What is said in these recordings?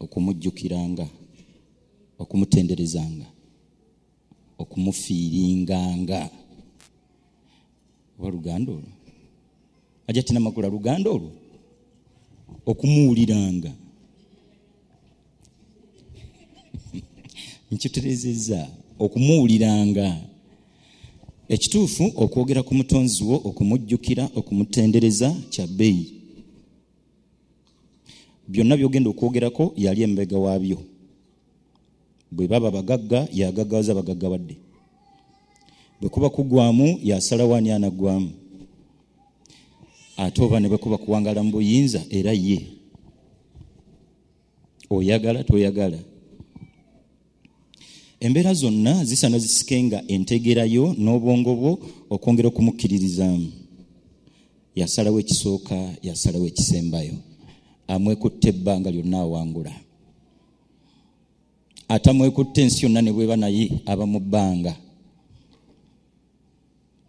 okumujjukiranga okumutenderezanga okumufiiringanga oba luganda olwo aja tina makula luganda olwo okumuwuliranga nkiterezeza okumuwuliranga ekituufu okwogera ku mutonzi wo okumujjukira okumutendereza kya bbeeyi byonna byogenda okwogerako yali embega waabyo bwe baba bagagga yagaggawaza bagagga badde bwe kuba kugwamu yasalawo ani anaggwamu ate oba ne bwe kuba kuwangala mu buyinza era ye oyagala toyagala embeera zonna zisaana zisike nga entegerayo n'obwongo bwo okwongera okumukkiririzaamu yasalawo ekisooka yasalawo ekisembayo amwekutte ebbanga lyonna awangula atamwekutte ensi yonna ne bweba naye aba mu bbanga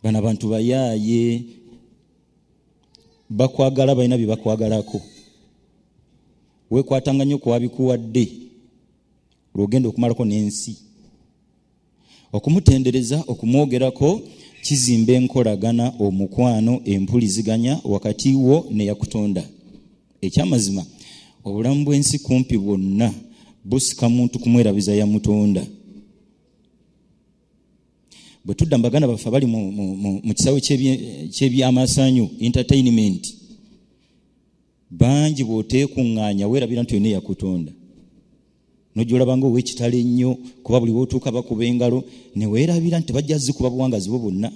bano abantu bayaaye bakwagala balina bye bakwagalako wekwatanga nnyo kuwabikuwadde lwogenda okumalako n'ensi okumutendereza okumwogerako kizimba enkolagana omukwano empuliziganya wakati wo neyakutonda ekyamazima obulamu bw'ensi kumpi bwonna busika muntu kumwerabiza yamutonda bwe tudda mu baganda baffe abali mu kisawe kyebyamasanyu entertainment bangi bwoteekuŋŋaanya weerabira nti olina eyakutonda nojolabanga owekitalo ennyo kuba buli wotuuka bakuba engalo neweerabira nti bajja zikuba buwangazi bwo bwonna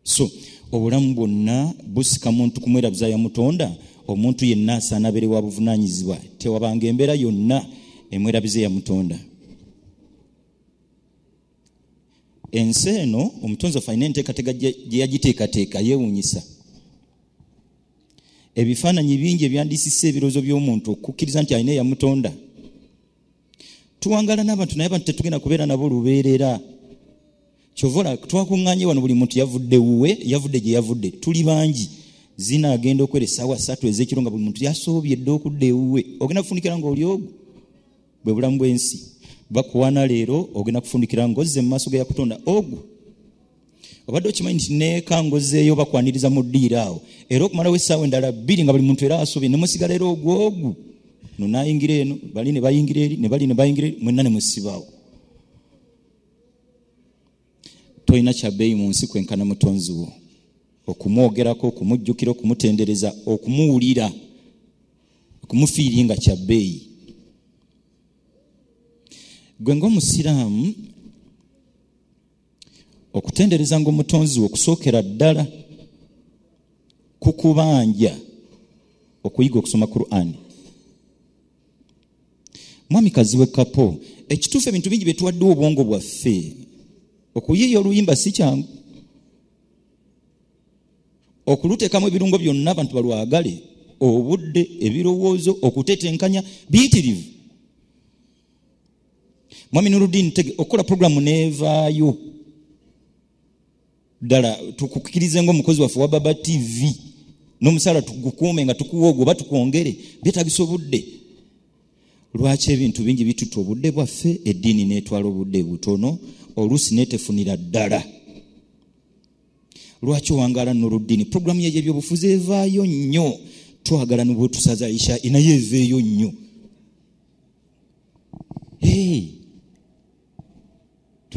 so obulamu bwonna busika muntu kumwerabiza yamutonda omuntu yenna asaana abeere wa buvunaanyizibwa tewabanga embeera yonna emwerabize yamutonda ensi eno omutonzi waffe alina enteekateeka gye yagiteekateeka yeewuunyisa ebifaananyi bingi ebyandisisa ebirowoozo by'omuntu okukkiriza nti alina eyamutonda tuwangala n'abantu naye abantu tetugenda kubeera nabo lubeerera kyovola twakuŋŋanye wano buli muntu yavudde wuwe yavudde gye yavudde tuli bangi zina agenda okwera essaawa ssatu ez'ekiro nga buli muntu yasoobye dde okudda ewuwe ogenda kufunikira nga oli ogwo bwe bulamu bw'ensi bakuwana leero ogenda kufunikira ng'ozze mu maaso ga yakutonda ogwo obadde okimanyi nti nekangozeeyo bakwaniriza mu ddiiro awo era okumalawo essaawa endala bbiri nga buli muntu era asubi nemusigala era ogwogu nonayingira eno bali nebayingira eri nebali nebayingira eri mwenna nemusibaawo tolina kyabeeyi mu nsi kwenkana mutonzi wo okumwogerako okumujjukira okumutendereza okumuwulira okumufiiri nga kyabeeyi gwe ngaomusiraamu okutendereza nga omutonzi we okusookera ddala ku kubanja okuyiga okusoma qurani mwami kaziwe kapo ekituufu ebintu bingi byetuwaddewo obwongo bwaffe okuyiiya oluyimba si kyangu okuluteekamu ebirungo byonna abantu balwagale obudde ebirowoozo okutetenkanya biyitirivu mwami nurudin tege okukola programu neevaayo ddala tukukirize ngaomukozi waffe wa baba tv n'omusaala tugukuume nga tukuwa ogwo oba tukwongere byetagisa obudde lwaki ebintu bingi bituta obudde bwaffe eddiini netwala obudde butono oluusi netefunira ddala lwaki owangala nurudini programu yaye ebyobufuzi evaayo nnyo twagala nibwetusaza isha inaye eveeyo nnyo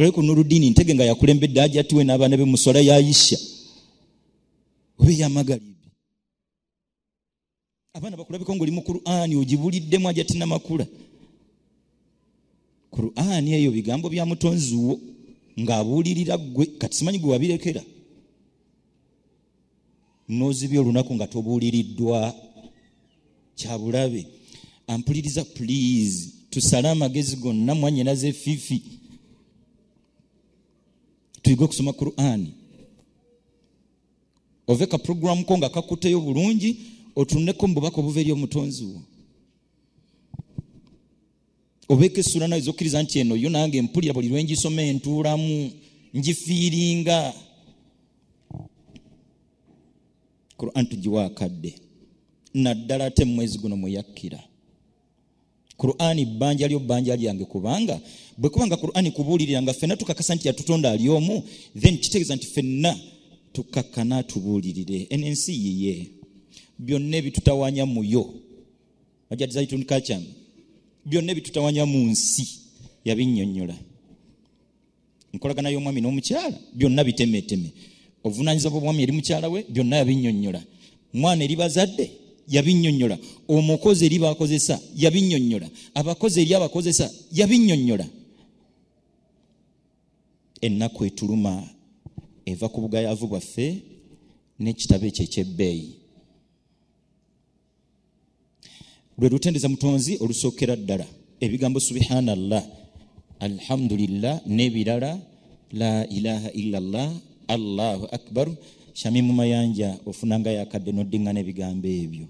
tulabe ku nurudini ntege nga yakulembedde ajatiwe n'abaana be muswala ya isha oba eyamagalibi abaana bakulabiko ngaoli mu qurani ogibuliddemu ajatina makula qurani eyo bigambo bya mutonziwo ng'abuulirira ggwe kati simanyi gwe wabirekera nozibya olunaku nga tobuuliriddwa kyabulabe ampuliriza please tusale amagezi gonna mwanyinaza efifi tuyige okusoma qurani ove ka programu ko nga kakuteyo bulungi otuneko mububaka obuva eri omutonzi wo obeeko essula nawe zokkiriza nti eno yo nange mpulira buli lwengisoma entuulamu ngifiiringa quran tugiwa akadde naddala ate mumwezi guno mweyakkira qurani bbanja lyo bbanja lyange kubanga bwe kubanga qurani kubuulirira nga fenna tukakasa nti yatutonda ali omu then kitegeeza nti fenna tukakkana tubuulirire eno ensi yiye byonna ebitutawanya muyo ajad zaitun kacham byonna ebitutawanya mu nsi yabinnyonnyola enkolagana y'omwami n'omukyala byonna bitemeteme obuvunanyizibwa bw'omwami eri mukyala we byonna yabinnyonnyola mwana eri bazadde yabinnyonnyola omukozi eri bakozesa yabinnyonnyola abakozi eri abakozesa yabinnyonnyola ennaku etuluma eva ku bugayaavu bwaffe n'ekitabo ekyo eky'ebbeeyi lwe lutendeza mutonzi olusookera ddala ebigambo subhana llah alhamdulillah n'ebirala la ilaha illa llah allahu akbar shamimu mayanja ofunanga yakadde noddingana ebigambo ebyo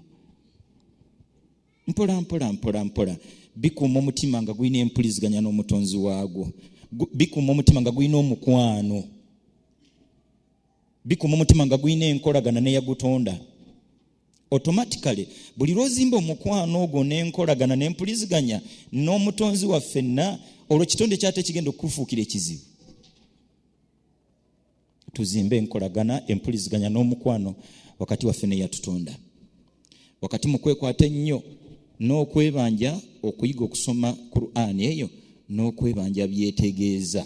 mpola mpola mpola mpola bikuuma omutima nga gulina empuliziganya n'omutonzi waagwo bikuuma omutima nga gulina omukwano bikuuma omutima nga gulina enkolagana neyagutonda automatically buli lwozimba omukwano ogwo nenkolagana nempuliziganya n'omutonzi waffenna olwo kitonde kyate kigenda okukufuukira ekizibu tuzimbe enkolagana empuliziganya n'omukwano wakati waffe neyatutonda wakati mukwekwata ennyo n'okwebanja okuyiga okusoma qur'an eyo n'okwebanja byetegeeza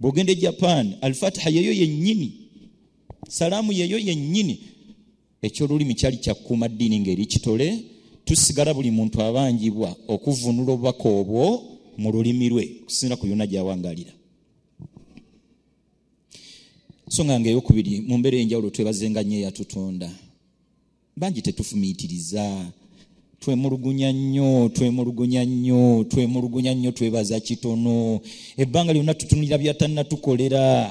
bwogenda e japan alfatiha yeyo yennyini salaamu yeyo yennyini ekyolulimi kyali kyakuuma ddiini ngaeri kitole tusigala buli muntu abanjibwa okuvunula obubaka obwo mu lulimi lwe okusinzira ku yona gyawangalira so nga nga eyokubiri mu mbeera enjawulo twebazenga nyo eyatutonda bangi tetufumiitiriza twemulugunya nnyo twemulugunya nnyo twemulugunya nnyo twebaza kitono ebbanga lyonna tutunulira byatannatukolera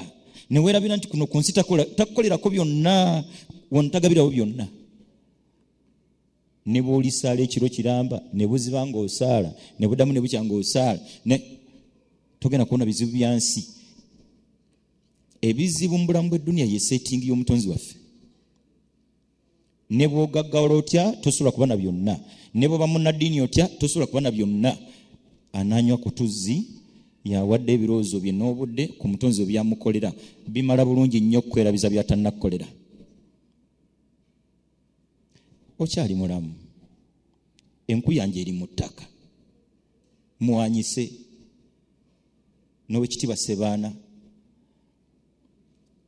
newerabira nti kuno ku nsi takukolerako byonna wantagabirawo byonna ne bwolisaala ekiro kiramba ne buziba ngaosaala ne budamu ne bukya ngaosaala ne togenda kubona bizibu bya nsi ebizibu mu bulamu bw'edduniya ye settingi y'omutonzi waffe ne bwogaggawala otya tosobola kuba na byonna ne bwoba munnaddiini otya tosobola kuba na byonna ananywa ku tuzzi yawadde ebirowoozo bye n'obudde ku mutonzi we byamukolera bimala bulungi nnyo okukwerabiza byatannakkolera okyali mulamu enku yange eri mu ttaka mwanyise n'owekitiibwa sebaana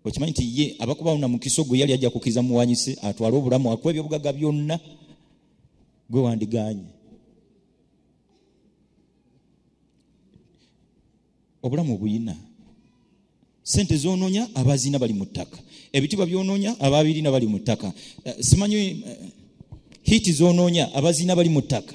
okimanyi nti ye abakubawo na mukisa ogwo yali ajja kukiza muwanyise atwale obulamu akuwa ebyobugaga byonna gwe wandiganye obulamu obuyina sente zononya abazina bali mu ttaka ebitibwa byononya ababirina bali mu ttaka eh, simanyi eh, hiti zononya abazina bali mu ttaka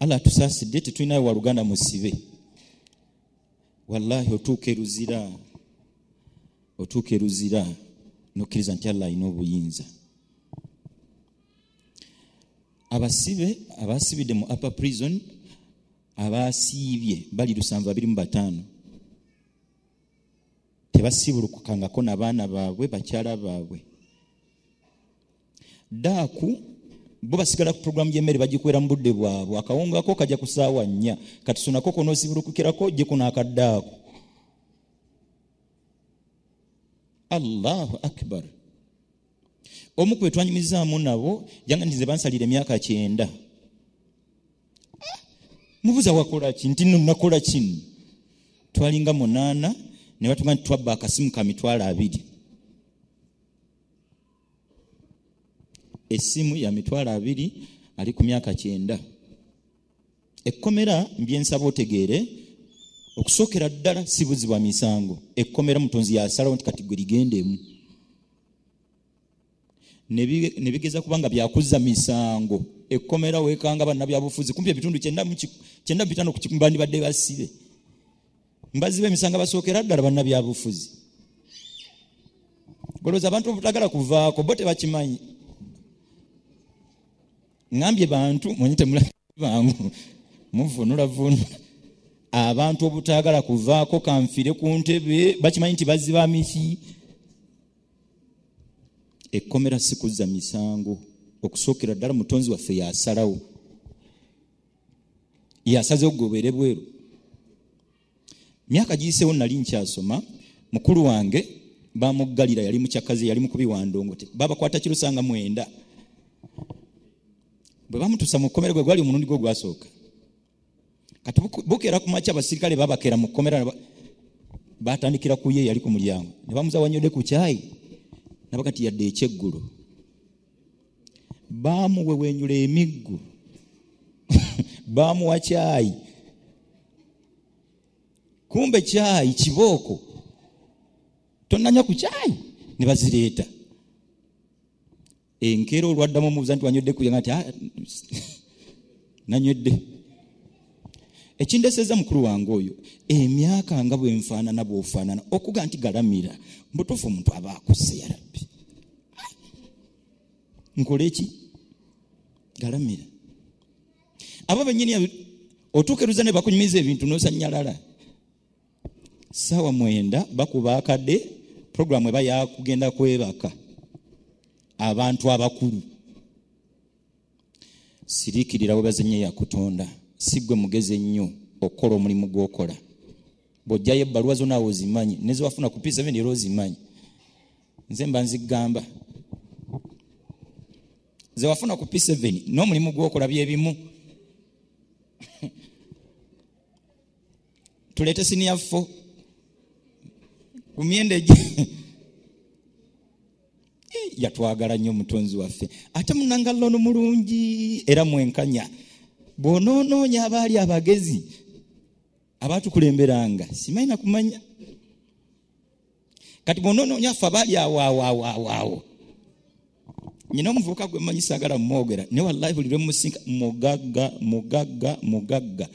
allah tusaasidde tetulinayo waluganda musibe wallahi otuuka eruzira otuuka eruzira nokkiriza nti allah alina obuyinza abasibe abasibidde mu upper prison abasiibye bali lusanvu abiri mu bataano tebasibulukukangako nabaana baabwe bakyala baabwe daaku bo basigala ku puroguramu y'emmere bagikwera mu budde bwabwe akawunga ko kajja ku saawa nnya kati sonako konoosibulukukirako jeko n'akaddaako allahu akbar omu kwe twanyumizaamu nabo yanga nti ze bansalira emyaka kyenda ah, mubuza wakola ki nti no nakola kino twalinga munaana ne batuga nti twabba akasimu ka mitwalo abiri essimu ya mitwalo abiri ali ku myaka kyenda ekkomera mbyensaba otegeere okusookera ddala si buzi bwa misango ekkomera mutonzi yasalawo nti kati gwe ligendemu ne bigeza kuba nga byakuzza misango ekkomera weekanga bannabyabufuzi kumpi ebitundu kyenda bitano bandibadde basibe mbazi bemisango basookera ddala bannabyabufuzi bolowooza abantu obutagala kuvaako bo tebakimanyi ngambye bantu mwenye temulabangu muvunula vunula abantu obutagala kuvaako kanfire ku ntebe bakimanyi nti baziba miki ekkomera sikuzza misango okusookera ddala mutonzi waffe yasalawo yasaze okugobeere bweru myaka giyiseewo nali nkyasoma mukulu wange bamuggalira yali mukyakazi yali mukubi wa ndongote babakwata kirusanga mwenda bwe bamutusa mu kkomera gwe gwali omulundi gwe gwasooka kati bukeera ku makya abasirikale babakeera mu kkomera batandikira ku ye yali ku mulyango ne bamuzawanyode ku kyayi nabakati yadde ekyeggulo baamuwewenyula emiggo baamuwa kyayi kumbe kyayi kibooko tonanya ku kyayi ne bazireeta enkeera olwaddamu omubuza nti wanywedde kuya nti ah, nanywedde ekindeseza mukulu wange oyo emyaka nga bwenfaanana bwofaanana okuga nti galamira mbutuufu omuntu aba akusse yarabbi nkole ki galamira abo benyini otukeruza ne bakunyumiza ebintu nosanyalala saawa mwenda bakuba akade programu eba yakugenda kwebaka abantu abakulu sirikirira webazenye yakutonda sigwe mugezi ennyo okukola omulimu gwokola bwojjayo ebbaluwa zonawe ozimanyi nezewafuna ku p7 era ozimanyi nze mba nzigamba nze wafuna ku p7 n'omulimu gwokola byebimu tuleete siniyafo ku myenda egi yatwagala nnyo omutonzi waffe ate munangalono mulungi era mwenkanya bw'onoonoonya abaali abagezi abaatukulemberanga simanyi nakumanya kati bwonononya fe abali awoawoawoawo nyina omuvubuka gwe manyi sagala mumwogera naye wallahi buli lwemusinka mugagga mugagga mugagga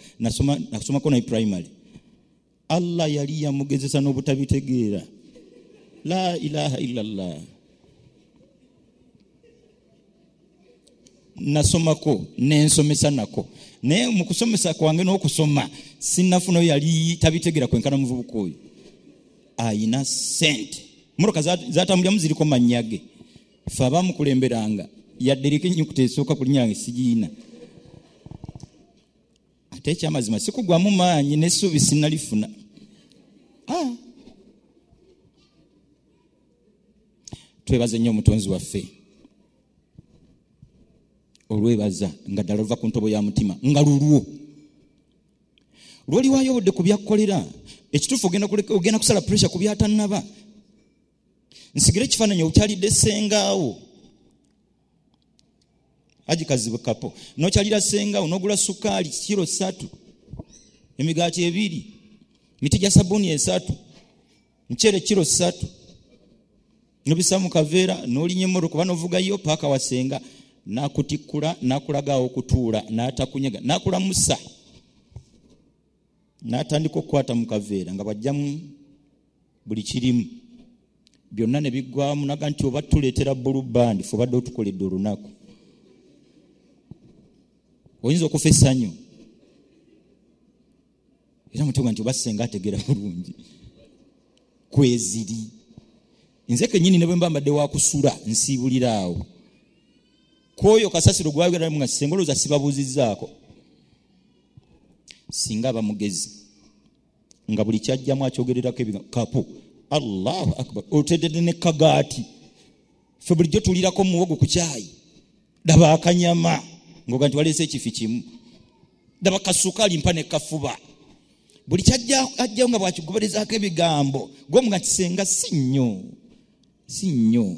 nasomako naye primary allah yali yamugezesa n'obutabitegeera la ilaha illallah nasomako nensomesa nako naye mukusomesa kwange nokusoma sinafuna oyo yali tabitegera kwenkana muvubuka oyo ayina sente motoka zatambulyamu ziriko manyage fe abamukulemberanga yadderiko enyukuta esooka kulinyange sigiina ate ekyamazima sikugwamu maanyi nesuubi sinalifuna ah. twebaze nnyo omutonzi waffe olwebaza nga ddala luva ku ntobo ya mutima nga lulwo lwoliwayo obudde ku byakkolera ekituufu ogenda kusala pressure ku byatannaba nsigire ekifaananyi okyalidde sengaawo aji kazibu kapo nokyalira senga onogula sukaali kiro satu emigaati ebiri miti gya sabuni esatu mukyere kiro satu nobisa mu kaveera nolinya emmoto kuba novugayo paaka wasenga nakutikkula nakulagaawo okutuula natakunyaga nakulamusa natandika okukwata mu kaveera nga bwajjamu buli kirimu byonna ne biggwamu naga nti oba tuleetera bulu bandi fe obadde otukoledde olunaku oyinza okufa essanyu era mutuga nti oba senga ategera bulungi kweziri nze kenyini ne bwe mba mbadde wakusula nsiibulira awo kwoyo kasasiro gwayogeramu nga senga olowooza sibabuuzizzaako singa aba mugezi nga buli kyajjamu akyogererako ebigambo kapu allahu akbar otedede ne kagaati fe bulijjo tulirako muwogo ku kyayi daba akanyama ngoga nti waleese ekifi kimu daba kasukaali mpa ne kafuba buli kyajjawo nga bwakiguberezaako ebigambo gwomuga nti senga si nnyo si nnyo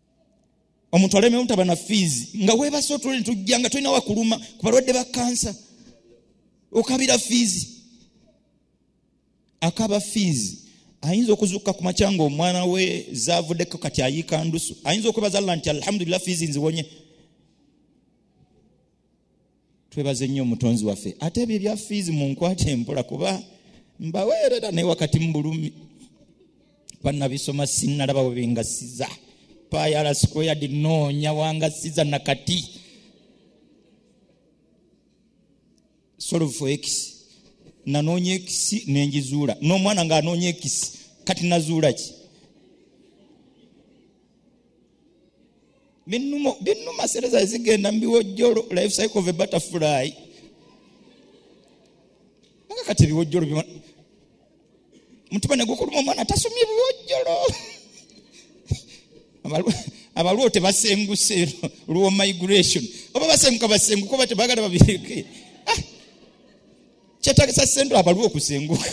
omuntu alemewo ntaba na fiizi nga webase otule netujja nga tolina wakuluma ku balwadde ba kansa okabira fiizi akaba fiizi ayinza okuzuuka ku makya nga omwana we zavuddeko kati ayiika ndusu ayinza okwebaza llah nti alhamdulillah fiizi nziwonye twebaze nnyo omutonzi waffe ate ebyo ebya fiizi munkwate empola kuba mbaweerera naye wakati mu bulumi banabisoma sinalaba webingasiza payala squared noonya wangasiza nakati solve for x nanoonya ekisi nenjizuula n'omwana ng'anoonya ekisi kati nazuula ki binuma sente zaali zigenda mu biwojjolo life cycle of a butterfly nga kati ebiwojjolo mutima negukuluma omwana tasomye ebiwojjolo abalwo tebasenguse lwo migration oba basenguka basenguka oba tebagala babireke ah! kyetagisa sente abalwo okusenguka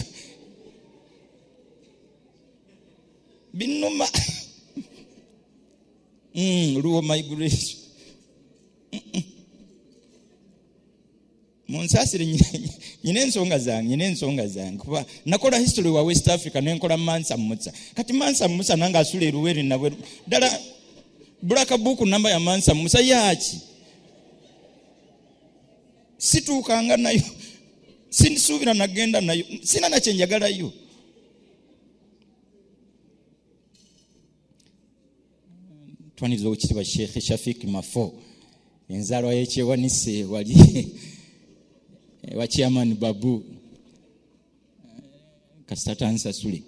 binuma mm, luwo migration munsasire nyina ensonga zange nyina ensonga zange kuba nakola history wa west africa nenkola mansa musa kati mansa musa nange asula eruweri nabwe ddala bulaka buku namba ya mansa musa yaki situukanga nayo sinsuubira nagenda nayo sina nakyenjagalayo twaniriza okitibwa sheikh shafik mafo enzalwa yekyewanise wali ewa chairman babu kasita tansasule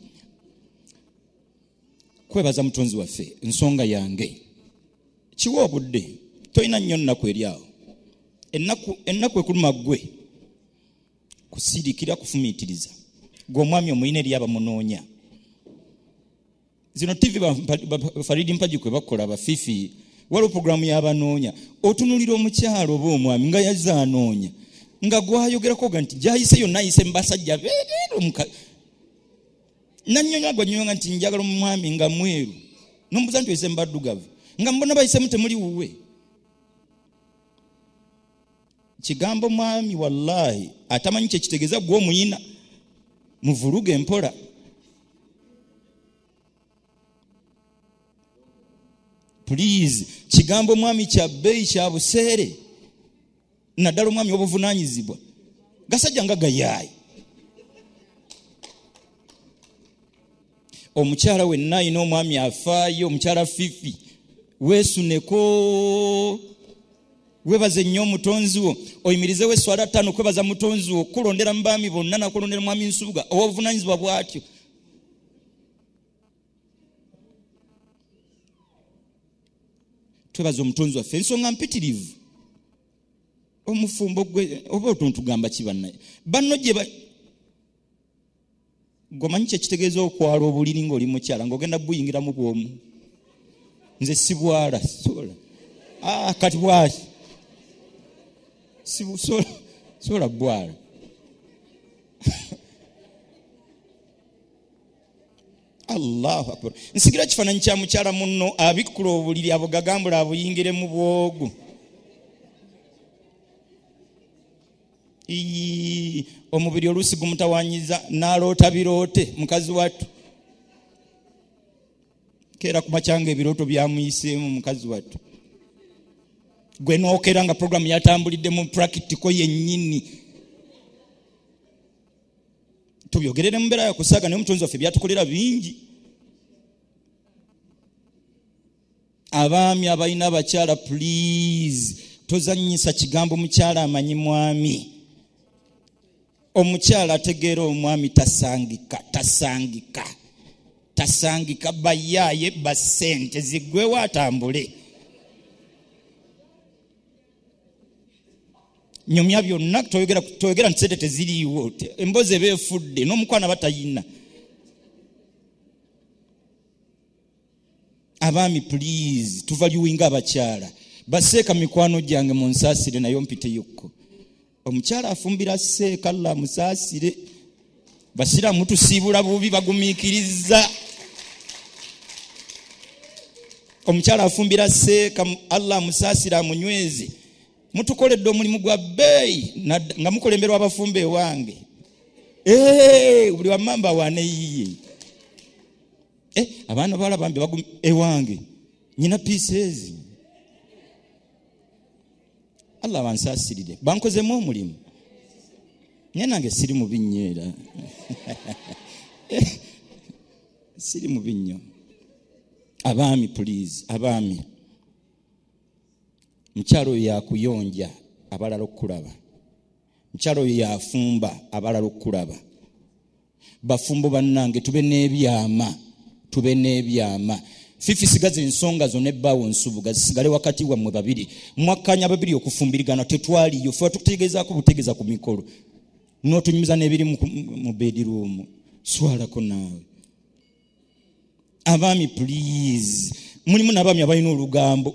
kwebaza mutonzi waffe nsonga yange kiwa obudde tolina nnyo nnaku eri awo ennaku ekuluma ggwe kusirikira kufumiitiriza gwe omwami omulina eri abamunoonya zino tv bafaridi mpagi kwe bakola bafifi waliwo puroguramu yabanoonya otunulira omukyalo oba omwami nga yazze anoonya nga gwayogerako ga nti gyayise yonna ayise mubasajja bereero nanyonyola gwanyonyola nti njagala omwami nga mweru nomubuza nti oyise mubaddugavu nga mbona bayisemu temuli wuwe kigambo mwami wallahi atamanyi kyekitegeza gwe omuyina muvuluge mpola please kigambo mwami kya bbeeyi kya buseere naddala omwami obuvunanyizibwa gasajja nga gayaayi omukyala wenna alina omwami afaayo omukyala fifi weesuneko webaze nnyo omutonzi wo oyimirizewo eswala ttaano kwebaza mutonzi wo okulondera mu baami bonna nakulondera mwami nsubuga owobuvunanyizibwa bwatyo twebaza omutonzi waffe ensonga mpitirivu omufumbo gwe oba otuntugamba kibanaye banno gye gwemanyi kyekitegeeza okwala obuliri ngaoli mukyala ngaogenda buyingiramu bwomu nze sibwala sola ah, kati bwaki sola bwala allahu akbar nsigira kifaananyi kya mukyala munno abikkula obuliri abo gagambula abuyingiremu bwogu iyi omubiri oluusi gumutawanyiza naloota biroote mukazi wattu keera kumakyanga ebirooto byamuyiseemu mukazi wattu gwe nookera nga programu yatambulidde mu prakitiko yennyini tubyogerere mu mbeera yakusaaga naye omutonzi waffe byatukolera bingi abaami abalina abakyala please tozanyisa kigambo mukyala amanyi mwami omukyala ategeera omwami tasangika tasangika tasangika bayaaye basente zigwewo atambule nyumya byonna toyogera nti sente teziriiwo emboozi eba efudde n'omukwana batayina abaami please tuvaluwinga abakyala baseeka mikwano gyange mu nsaasire naye ompiteyokko omukyala afumbira seeka la musaasire basiraamu tusiibula bubi bagumiikiriza omukyala afumbira seeka allah amusaasire amunyweze mutukoledde omulimu gwa bbeeyi nga mukulemberwa abafumba ewange buli wamamba waneyiye eh, abaana bawala bambi bagum ewange nyina pieces allah abansaasirire bankozemu omulimu naye nange siri mu binnyo era eh, siri mu binnyo abaami puliizi abaami mukyalo oyo yakuyonja abalala okukulaba mukyalo oyo yafumba abalala okukulaba bafumbo bannange tube n'ebyama tube n'ebyama fifi sigaza ensonga zo nebbaawo nsubuga zisigale wakati wammwe babiri mwakkanya babiri okufumbirigana tetwaliyo fe watukutegeezaako butegeeza ku mikolo n'otunyumiza n'ebiri mu bediruumu swalako naawe abaami please mulimu nabaami abalina olugambo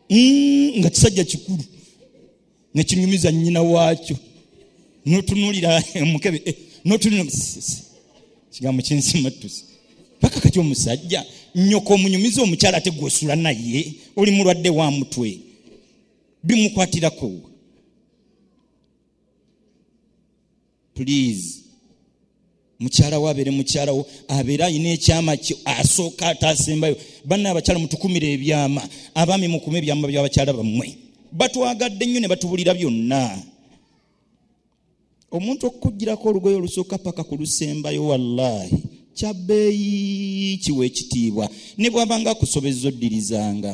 mm, nga kisajja kikulu nekinyumiza nyina waakyo notunulira mukebe eh, notunulira kigambo kyensimatusi paka kati omusajja nyoko omunyumiza omukyala ate gwosula naye oli mulwadde wa mutwe bimukwatirako please mukyala wo abeere mukyala wo abeere alina ekyama kyo asooka ataasembayo banna abakyala mutukumire ebyama abaami mukume ebyama byabakyala bammwe batwagadde nnyo ne batubulira byonna omuntu okukugirako olugoye olusooka paka ku lusembayo wallaahi kyabbeeyi kiwa ekitiibwa ne bwabanga akusobezza oddirizanga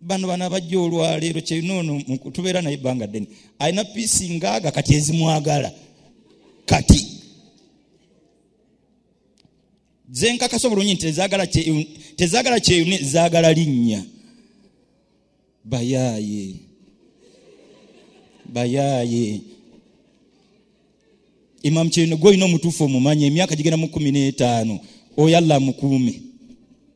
bano bana bajja olwaleero kyenoono tubeera naye ebbanga ddene alina piisi ngaaga kati ezimwagala kati zenkakasa obulungi nti tezagala kyeyune zagala linnya bayaaye bayaaye imamu kyeyune gwe olina omutuufu omumanyi emyaka gigenda mu kumi n'etaano oyalla mukuume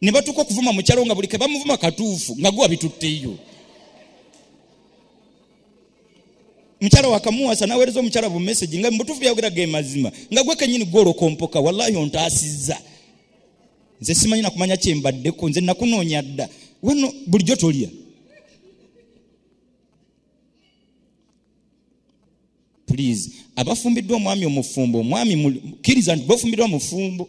ne batuuka okuvuma mukyalo nga buli ke bamuvuma katuufu nga guwa bitutteyo mukyala wakamuwasa nawereza omukyala bumesagi nga mubutuufu byayogera ge mazima nga gwe kenyini gwolokompoka wallahi ontaasizza nze simanyi nakumanya kyembaddeko nze nakunoonya dda wano bulijjo tolya please abafumbiddwa omwami omufumbo omwami kiriza nti bafumbiddwa mufumbo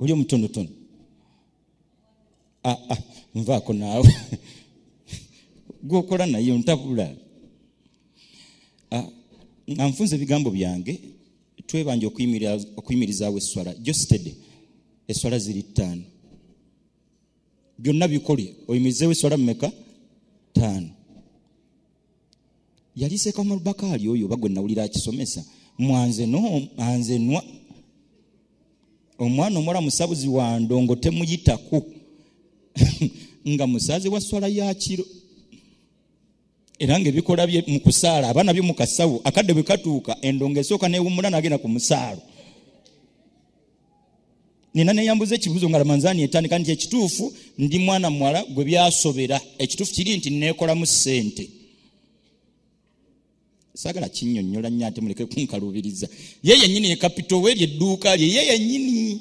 oli omutonotono ah, ah, nvaako naawe gwokola naye ntabula ah, nga nfunza ebigambo byange twebanja okuyimirizaawo esswala jostede esswala ziri ttaano byonna bikole oyimirizeewo esswala mumeka ttaano yali sekamar bakaali oyo oba gwe nawulira akisomesa mwanze no anze nwa omwana omuwala musabuzi wa ndongo temuyitako nga musaze wa swala yakiro era nga ebikola bye mu kusaala aba nabyo mu kasawo akadde bwe katuuka endongo esooka newummula nagenda ku musaalo nina neyambuza ekibuzo nga ramanzani etandika nti ekituufu ndi mwana muwala gwe byasobera ekituufu kiri nti nekolamu sente sagala kinyonyola nyo ate muleke kunkalubiriza ye yenyini ekapito we lyedduuka lye ye yenyini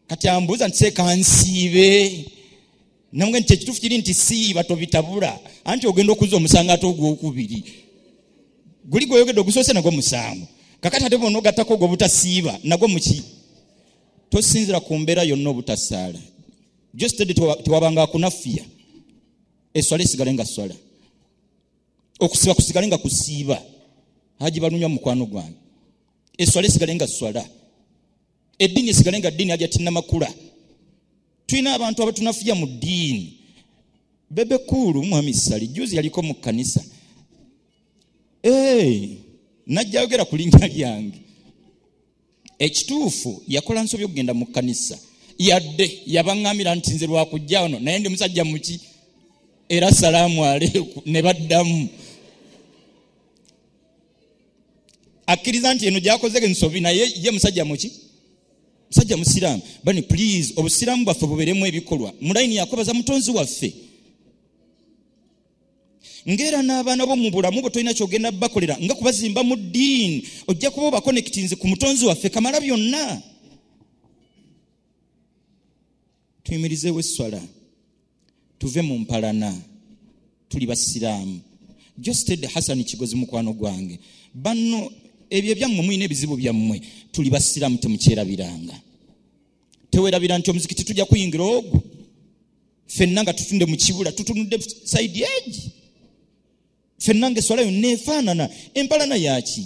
kati ambuuza nti sekansiibe namwe nti ekituufu kiri nti siiba tobitabula anti ogenda okuza omusango ate ogwokubiri guli gweoyogedde ogusoose nagwo musango kakati ate bona ogattako ogwo obutasiiba nagwo muki tosinzira ku mbeera yonna obutasaala jostedi tewabanga akunafiya eswala esigale nga swala okusiba kusigale nga kusiiba haji balunywa mukwano gwange eswala esigale nga swala eddiini esigale nga ddiini aja tinamakula tulina abantu abatunafuya mu ddiini bebe kuulu mwami sali juzi yaliko mu kkanisa eh, najja yogera ku linnya lyange ekituufu yakola nsobi okugenda mu kkanisa yadde yabaŋŋamira nti nze lwakujja ono naye ndi musajja muki era salaamu aleeku ne baddamu akkiriza nti eno gyakoze ensobi naye ye musajja muki musajja musiraamu bani please obusiraamu bwaffe buberemu ebikolwa mulayini yakubaza mutonzi waffe ngaera n'abaana bo mu bulamu bwe tolina kyogenda bakolera nga kubazimba mu ddiini ojja kuba obakonekitinzi ku mutonzi waffe kamala byonna tuyimirizeewo esswala tuve mu mpalana tuli basiraamu josted hasani kigozi mukwano gwange banno ebyo ebyammwe mulina ebizibu byammwe tuli basiraamu temukyerabiranga tewerabira nti omuzikiti tujja kuyingira ogwo fenna nga tutunde mu kibula tutunudde saidi egi fenna nga eswala yonna efaanana empalana yaki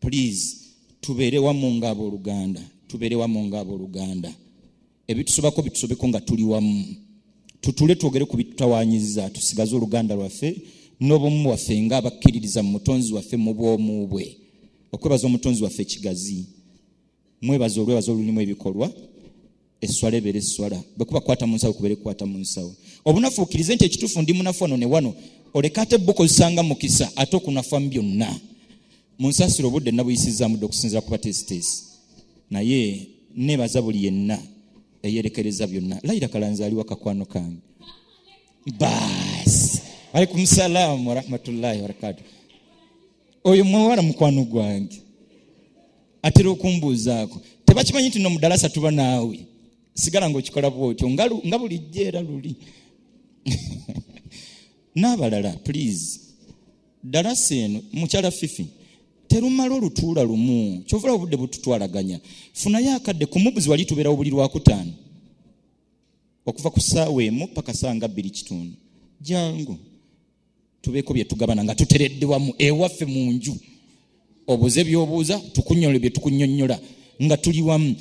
please tubeere wamu ngaabooluganda tubeere wamu ngaabooluganda ebitusobako bitusobeko nga tuli wamu tutule twogere ku bitutawanyiza tusigaze oluganda lwaffe n'obumu bwaffe nga abakkiririza mu mutonzi waffe mu bwomu bwe okwebaza omutonzi waffe kigazi mwebaza olwebaza olulimu ebikolwa esswala ebeere esswala bwekuba kukwata mu nsawo kubeere kukwata mu nsawo obunafu okkirize nti ekituufu ndi munafu wano ne wano oleka ate bukozesanga mukisa ate okunafa mu byonna mu nsaasira obudde nabuyisizaamu dde okusinzira ku bateesiteesi naye nebaza buli yenna eyerekereza byonna layira kalanzi aliwa kakwano kange baasi alaikum salaamu warahmatullahi wabarakatuh oyo muwala mukwano gwange atera okumbuuzaako tebakimanyi nti no mudalasa tuba naawe sigala ngaokikola bwotyo nga bulijjo era luli n'abalala please dalasa eno mukyala fifi terumala olutuula lumu kyovula obudde bututwalaganya funayo akadde kumubuzi wali tubeerawo buli lwakutaano okuva ku ssaawa emu paka saa nga bbiri kitundu jangu tubeeko bye tugabana nga tuteredde wamu ewaffe mu nju obuze byobuuza tukunyole bye tukunyonyola nga tuli wamu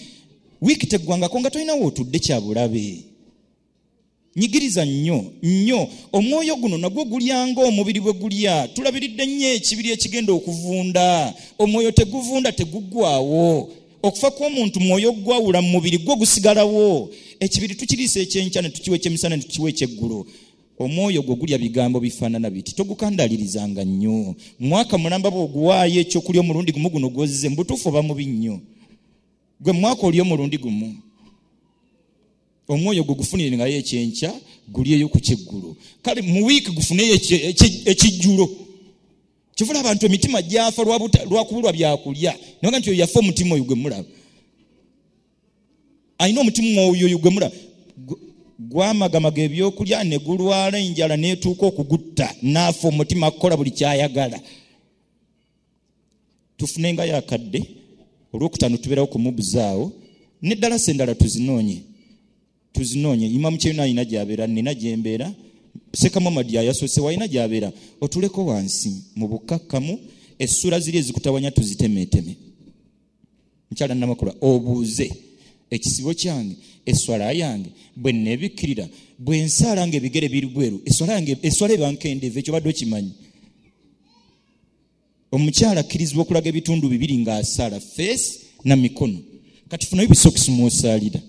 wiiki teggwangako nga tolinawo otudde kyabulabe nyigiriza nnyo nnyo omwoyo guno nagwo gulyanga omubiri bwe gulya tulabiridde nnyo ekibiri ekigenda okuvunda omwoyo teguvunda teguggwawo okufa kw'omuntu mwoyo ogwawula mu mubiri gwo gusigalawo ekibiri tukiriisa ekyenkya ne tukiwa ekyemisana ne tukiwa ekyeggulo omwoyo gwo gulya bigambo bifaanana biti togukandalirizanga nnyo mwaka mulamba bwoguwaayo ekyokulya omulundi gumu guno gwozize mubutuufu oba mubi nnyo gwe mwaka oli omulundi gumu omwoyo gwe gufunire ngayo ekyenkya gulyeyo ku kyeggulu kale mu wiiki gufuneyo ekijjulo kivula abantu emitima gyafa lwakubulwa byakulya nabanga nti oyo yafa omutima oyo gwe mulaba alina omutima mwoyoyo gwemula gwamagamaga ebyokulya ne gulwala enjala neetuuka okugutta naafa omutima kukola buli kyayagala tufune nga yakadde olwokutaano tubeerawo kumubuzaawo neddala se endala tuzinoonye tuzinoonya imamu kyeyuna alina gyabeera nina gyembeera sekamamadi yayasoose walina gyabeera otuleko wansi mu bukkakkamu essula ziri ezikutawanya tuzitemeeteme mukyala namakula obuuze ekisibo kyange eswala yange bwe nebikkirira bwe nsaala nga ebigere biri bweru eswala yange eswala ebankendevu ekyo badde okimanyi omukyala akkirizibwa okulaga ebitundu bibiri ng'asaala feesi na mikono kati funayo bisokisi mwosaalira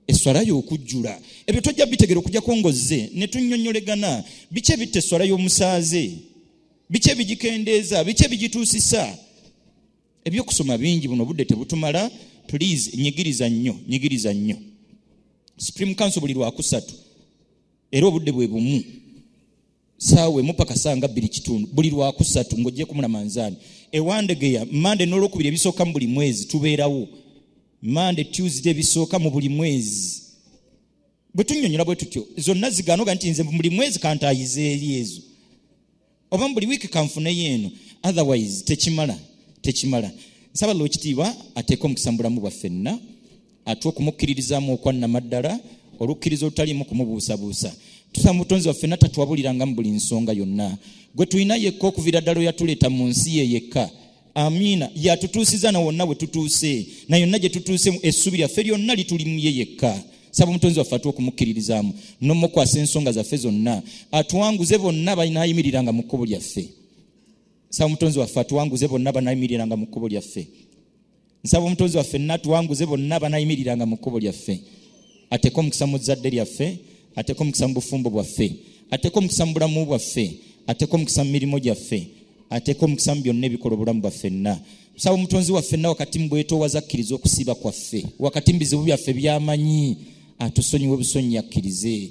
eswala y'okujjula ebyo tojja bitegera okujjako ngozze ne tunyonyolegana biki ebitta eswala y'omusaaze biki ebigikendeeza biki ebigituusisa ebyokusoma bingi buno obudde tebutumala please nyigiriza nnyo nyigiriza nnyo supreme council buli lwakusatu era obudde bwe bumu saawa emu paka saa nga bbiri kitundu buli lwakusatu ng'ojjeku mulamanzaani ewandegeya mande n'olwokubiri ebisooka mu buli mwezi tubeerawo mande tuesday ebisooka mu buli mwezi bwe tunyonyola bwe tutyo zonna ziganoga nti nze buli mwezi kantaayiza eri ezo oba mu buli wiiki kanfuneyo eno otherwise tekimala tekimala nsaba lwekitiibwa ateeke omukisa mu bulamu bwaffenna atuwa okumukkiririzaamu okwannamaddala olukkiriza olutaliimu kumubuusabuusa tusa mutonzi waffe natatwabuliranga mu buli nsonga yonna gwe tulina yekka okuviira ddala oyatuleeta mu nsi ye yekka amiina yatutuusiza na wonna wetutuuse na yonna gye tutuuse mu essubi lyaffe lyonna lituli mu ye yekka saba omutonzi waffe atuwa okumukkiririzaamu nomukwasa ensonga zaffe zonna atuwanguze bonna banaayimiriranga mu kkubo lyaffe saba omutonzi waffe atuwanguze bonna banaayimiriranga mu kkubo lyaffe nsaba omutonzi waffe natuwanguze bonna banayimiriranga mu kkubo lyaffe ateeka omukisa mu zzadde lyaffe ateeka omukisa mu bufumbo bwaffe ateeka omukisa mu bulamu bwaffe ateeka omukisa mu mirimu gyaffe ateeka omukisa mu byonna ebikola obulamu bwaffenna nsaba omutonzi waffenna wakati mu bwetoowaza akkiriza okusiiba kwaffe wakati mu bizibu byaffe byamanyi atusonyiwe obusonyi akkirize